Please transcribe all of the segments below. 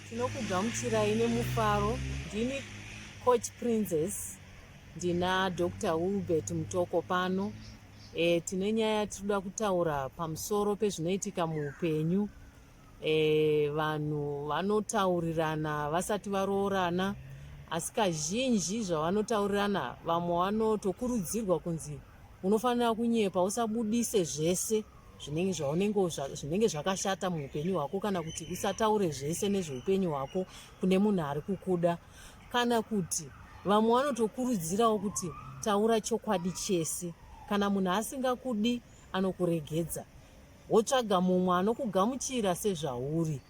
Tinokugamuchirai nemufaro ndini coach princess ndina dr wilbert mutoko pano e, tine nyaya tinoda kutaura pamusoro pezvinoitika muupenyu e, vanhu vanotaurirana vasati varoorana asi kazhinji zvavanotaurirana vamwe vanotokurudzirwa kunzi unofanira kunyepa usabudise zvese zvinenge zvaunenge zvinenge zvakashata muupenyu hwako kana kuti usataure zvese nezveupenyu hwako kune munhu ari kukuda kana kuti vamwe vanotokurudzirawo kuti taura chokwadi chese kana munhu asingakudi anokuregedza wotsvaga mumwe anokugamuchira sezvauri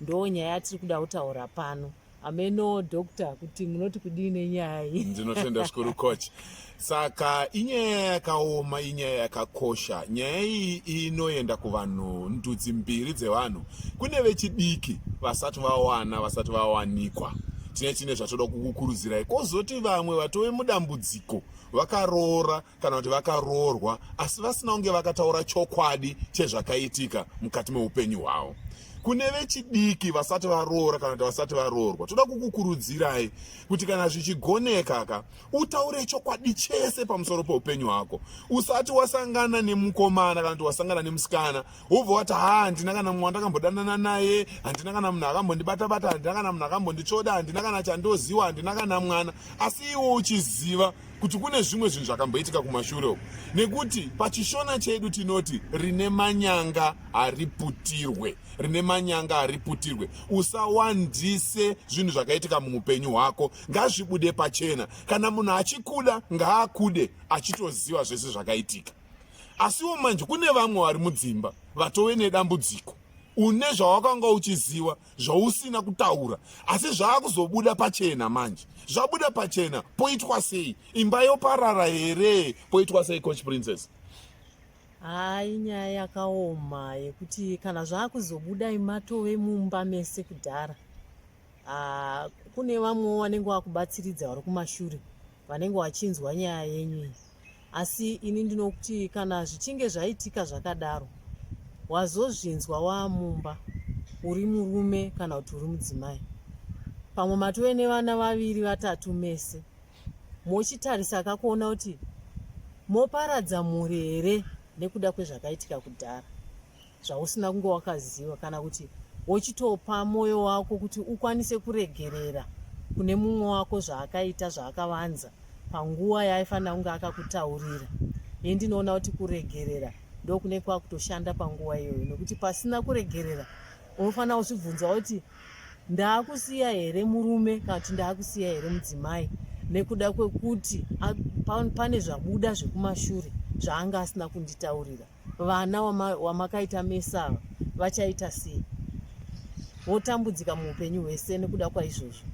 ndoo nyaya yatiri kuda kutaura pano Ameno doctor kuti munoti kudii nenyaya iyi. Ndinotenda zvikuru coach. Saka inyaya yakaoma, inyaya yakakosha. Nyaya iyi inoenda kuvanhu ndudzi mbiri dzevanhu. Kune vechidiki vasati vawana, vasati vawanikwa. Tine tine zvatoda kukukurudzirai. Kozoti vamwe vatove mudambudziko vakaroora kana kuti vakaroorwa asi vasina kunge vakataura chokwadi chezvakaitika mukati meupenyu hwavo kune vechidiki vasati varoora kana kuti vasati varoorwa toda kukukurudzirai kuti kana zvichigoneka ka utaure chokwadi chese pamusoro peupenyu hwako usati wasangana nemukomana kana kuti wasangana nemusikana wobva wati ha handina kana mumwe wandakambodanana naye handina kana munhu akambondibatabata handina kana munhu akambonditsvoda handina kana chandoziwa handina kana mwana asi iwo uchiziva kuti kune zvimwe zvinhu zvakamboitika kumashure uku nekuti pachishona chedu tinoti rine manyanga hariputirwe rine manyanga hariputirwe usawandise zvinhu zvakaitika muupenyu hwako ngazvibude pachena kana munhu achikuda ngaakude achitoziva zvese zvakaitika asiwo manje kune vamwe vari mudzimba vatove nedambudziko une zvawakanga uchiziva zvausina kutaura asi zvaakuzobuda pachena manje zvabuda pachena poitwa sei imba yoparara here poitwa sei coach princess hai nyaya yakaoma yekuti kana zvaakuzobuda imatove mumba mese kudhara ah, kune vamwewo vanenge vakubatsiridza vari kumashure vanenge vachinzwa nyaya yenyu iyi asi ini ndinokuti kana zvichinge zvaitika zvakadaro wazozvinzwa waamumba uri murume kana kuti uri mudzimai pamwe matove nevana vaviri vatatu mese mochitarisa akakuona kuti moparadza mhuri here nekuda kwezvakaitika kudhara zvausina kunge wakaziva kana kuti wochitopa mwoyo wako kuti ukwanise kuregerera kune mumwe wako zvaakaita zvaakavanza panguva yaaifanira kunge akakutaurira ini ndinoona kuti kuregerera ndokune kwakutoshanda panguva iyoyo nokuti pasina kuregerera unofanira kuzvibvunza kuti ndaakusiya here murume kana kuti ndaakusiya here mudzimai nekuda kwekuti pane zvabuda zvekumashure zvaanga asina kunditaurira Vana wamakaita wama mesa ava vachaita sei? Votambudzika muupenyu hwese nekuda kwaizvozvo.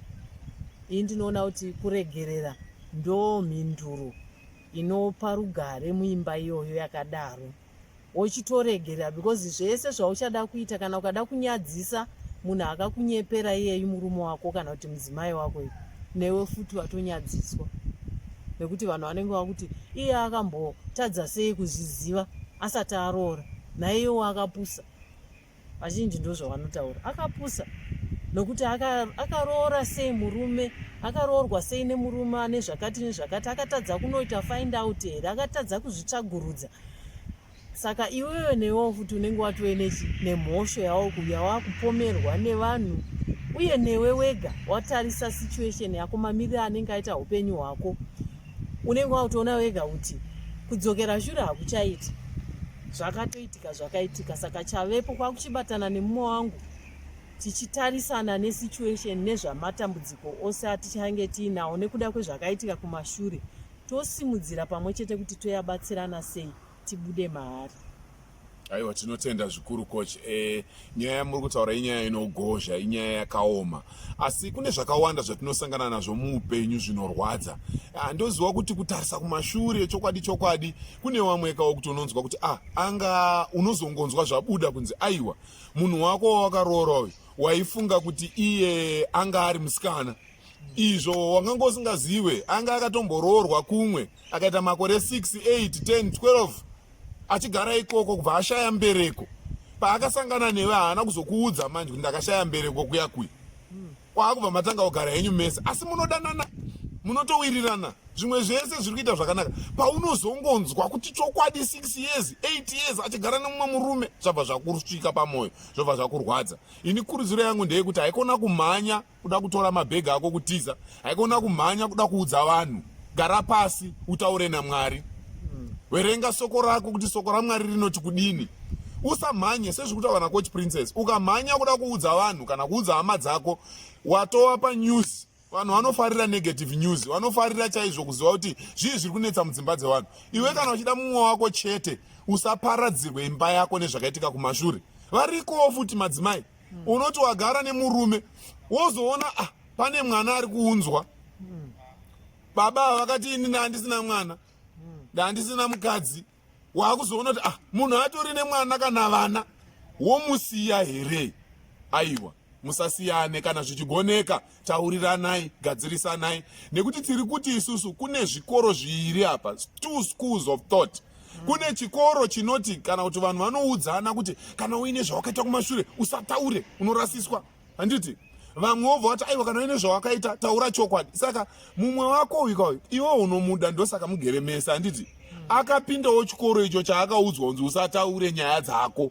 Iyi ndinoona kuti kuregerera ndo mhinduro inopa rugare muimba iyoyo yakadaro. Wochitoregerera because zvese zvauchada kuita kana ukada kunyadzisa munhu akakunyepera iyeyu murume wako kana kuti mudzimai wako ipo newe futi watonyadziswa nekuti vanhu vanenge vakuti iye akambotadza sei kuzviziva asati aroora naiyewo akapusa vazhinji ndozvavanotaura akapusa nokuti akaroora aka sei murume akaroorwa sei nemurume ane zvakati nezvakati akatadza kunoita find out here akatadza kuzvitsvagurudza saka iwewe newewo futi unenge watove nechi nemhosho yawakuuya wakupomerwa nevanhu uye newe wega watarisa situation yako mamiriro anenge aita upenyu hwako unenge wakutoona wega kuti kudzokera shure hakuchaiti zvakatoitika zvakaitika saka chavepo kwakuchibatana nemumwe wangu tichitarisana nesituation nezvamatambudziko ose atichange tiinawo nekuda kwezvakaitika kumashure tosimudzira pamwe chete kuti toyabatsirana sei tibude mahari aiwa tinotenda zvikuru coach e, nyaya yamuri kutaura inyaya inogozha inyaya yakaoma asi kune zvakawanda zvatinosangana nazvo muupenyu zvinorwadza ah, ndoziva kuti kutarisa kumashure chokwadi chokwadi kune vamwe kawo kuti unonzwa kuti ah, anga unozongonzwa zvabuda kunzi aiwa munhu wako wawakaroora uyu waifunga kuti iye anga ari musikana izvo wanganga usingazive anga akatomboroorwa kumwe akaita makore 6 8 10 12 achigara ikoko kubva ashaya mbereko paakasangana neve haana kuzokuudza manje kuti ndakashaya mbereko kuya kuya kwaakubva matanga kugara henyu mese asi munodanana munotowirirana zvimwe zvese zviri kuita zvakanaka paunozongonzwa kuti chokwadi 6 years 8 years achigara nemumwe murume zvabva zvakursvika pamwoyo zvabva zvakurwadza ini kurudziro yangu ndeyekuti haikona kumhanya kuda kutora mabhegi ako kutiza haikona kumhanya kuda kuudza vanhu gara pasi utaure namwari verenga soko rako kuti soko ramwari rinoti kudini usamhanye sezviri kutaura nacoach princess ukamhanya kuda kuudza vanhu kana kuudza hama dzako watova panews vanhu vanofarira negative news vanofarira chaizvo kuziva kuti zvii zviri kunetsa mudzimba dzevanhu iwe kana uchida mumwe wako chete usaparadzirwe imba yako nezvakaitika kumashure varikowo futi madzimai mm. unoti wagara nemurume wozoona ah, pane mwana ari kuunzwa mm. baba ava vakati ini ndaandisina mwana mm. ndaandisina mm. mukadzi waakuzoona kuti ah, munhu atori nemwana kana vana womusiya here aiwa musasiyane kana zvichigoneka tauriranai gadzirisanai nekuti tiri kuti isusu kune zvikoro zviiri apa two schools of thought kune chikoro chinoti kana kuti vanhu vanoudzana kuti kana uine zvawakaita kumashure usataure unorasiswa handiti vamwe wobva wati aiwa kana uine zvawakaita taura chokwadi saka mumwe wako uyu kauyu iwe unomuda ndosaka mugere mese handiti akapindawo chikoro icho chaakaudzwa kunzi usataure nyaya dzako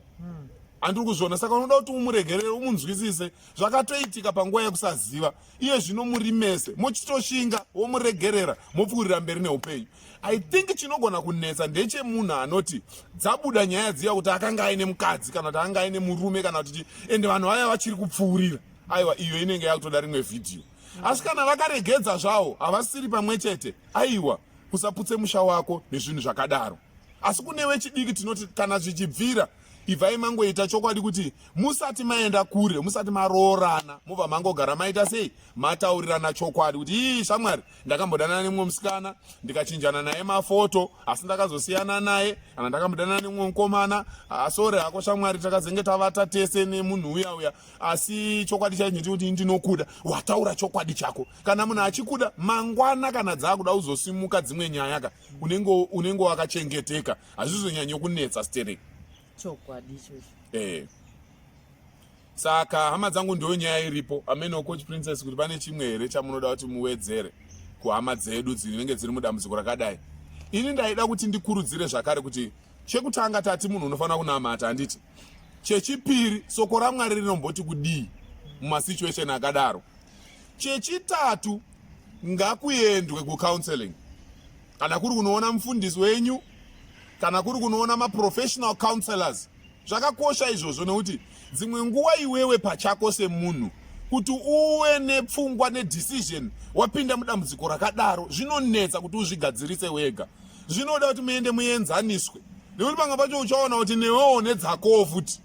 handiri kuzviona saka unoda kuti umuregerere umunzwisise zvakatoitika panguva yekusaziva iye zvino muri mese mochitoshinga womuregerera mopfuurira mberi neupenyu i think chinogona kunetsa ndechemunhu anoti dzabuda nyaya dziya kuti akanga aine mukadzi kana kuti akanga aine murume kana kuti ende vanhu vaya vachiri kupfuurira aiwa iyo inenge yakutoda rimwe vhidhiyo asi kana vakaregedza zvawo havasiri pamwe chete aiwa usaputse musha wako nezvinhu zvakadaro asi kune wechidiki tinoti kana zvichibvira ibvai mangoita chokwadi kuti musati maenda kure musati maroorana mobva mangogara maita sei mataurirana chokwadi kuti ii shamwari ndakambodanana nemumwe musikana ndikachinjana naye mafoto asi ndakazosiyana naye kana ndakambodanana nemumwe mukomana asore ah, hako shamwari takazenge tavata tese nemunhu uya uya asi chokwadi chaicho ndechekuti ndinokuda wataura chokwadi chako kana munhu achikuda mangwana kana dzaakuda uzosimuka dzimwe nyaya ka unenge wakachengeteka hazvizonyanyo kunetsa stering chokwadi ichocho eh saka hama dzangu ndiyo nyaya iripo ameno coach princess kuti pane chimwe here chamunoda kuti muwedzere kuhama dzedu dzinenge dziri mudambudziko rakadai ini ndaida kuti ndikurudzire zvakare kuti chekutanga tati munhu unofanira kunamata handiti chechipiri soko ramwari rinomboti kudii mumasituation akadaro chechitatu ngakuendwe kucounseling kana kuri kunoona mufundisi wenyu kana kuri kunoona maprofessional counselors zvakakosha izvozvo nekuti dzimwe nguva iwewe pachako semunhu kuti uwe nepfungwa nedecision wapinda mudambudziko rakadaro zvinonetsa kuti uzvigadzirise wega zvinoda kuti muende muenzaniswe nekuti panga pacho uchaona kuti newewo nedzakowo futi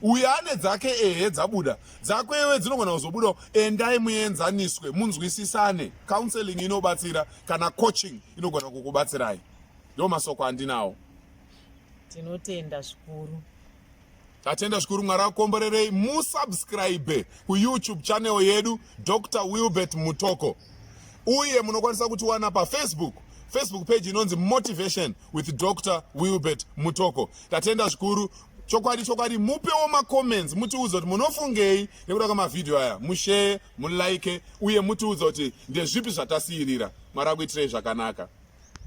uyo ane dzake ehe dzabuda dzako iwe dzinogona kuzobudawo endai muenzaniswe munzwisisane counseling inobatsira kana coaching inogona kukubatsirai ndo masoko andinawo tinotenda zvikuru tatenda zvikuru mwari akomborerei musubscribe kuyoutube channel yedu dr wilbert mutoko uye munokwanisa kutiwana pafacebook facebook page inonzi motivation with dr wilbert mutoko tatenda zvikuru chokwadi chokwadi mupewo macomments mutiudza kuti munofungei nekuda kwemavhidhiyo aya musheye mulike uye mutiudza kuti ndezvipi zvatasiirira mwari akuitirei zvakanaka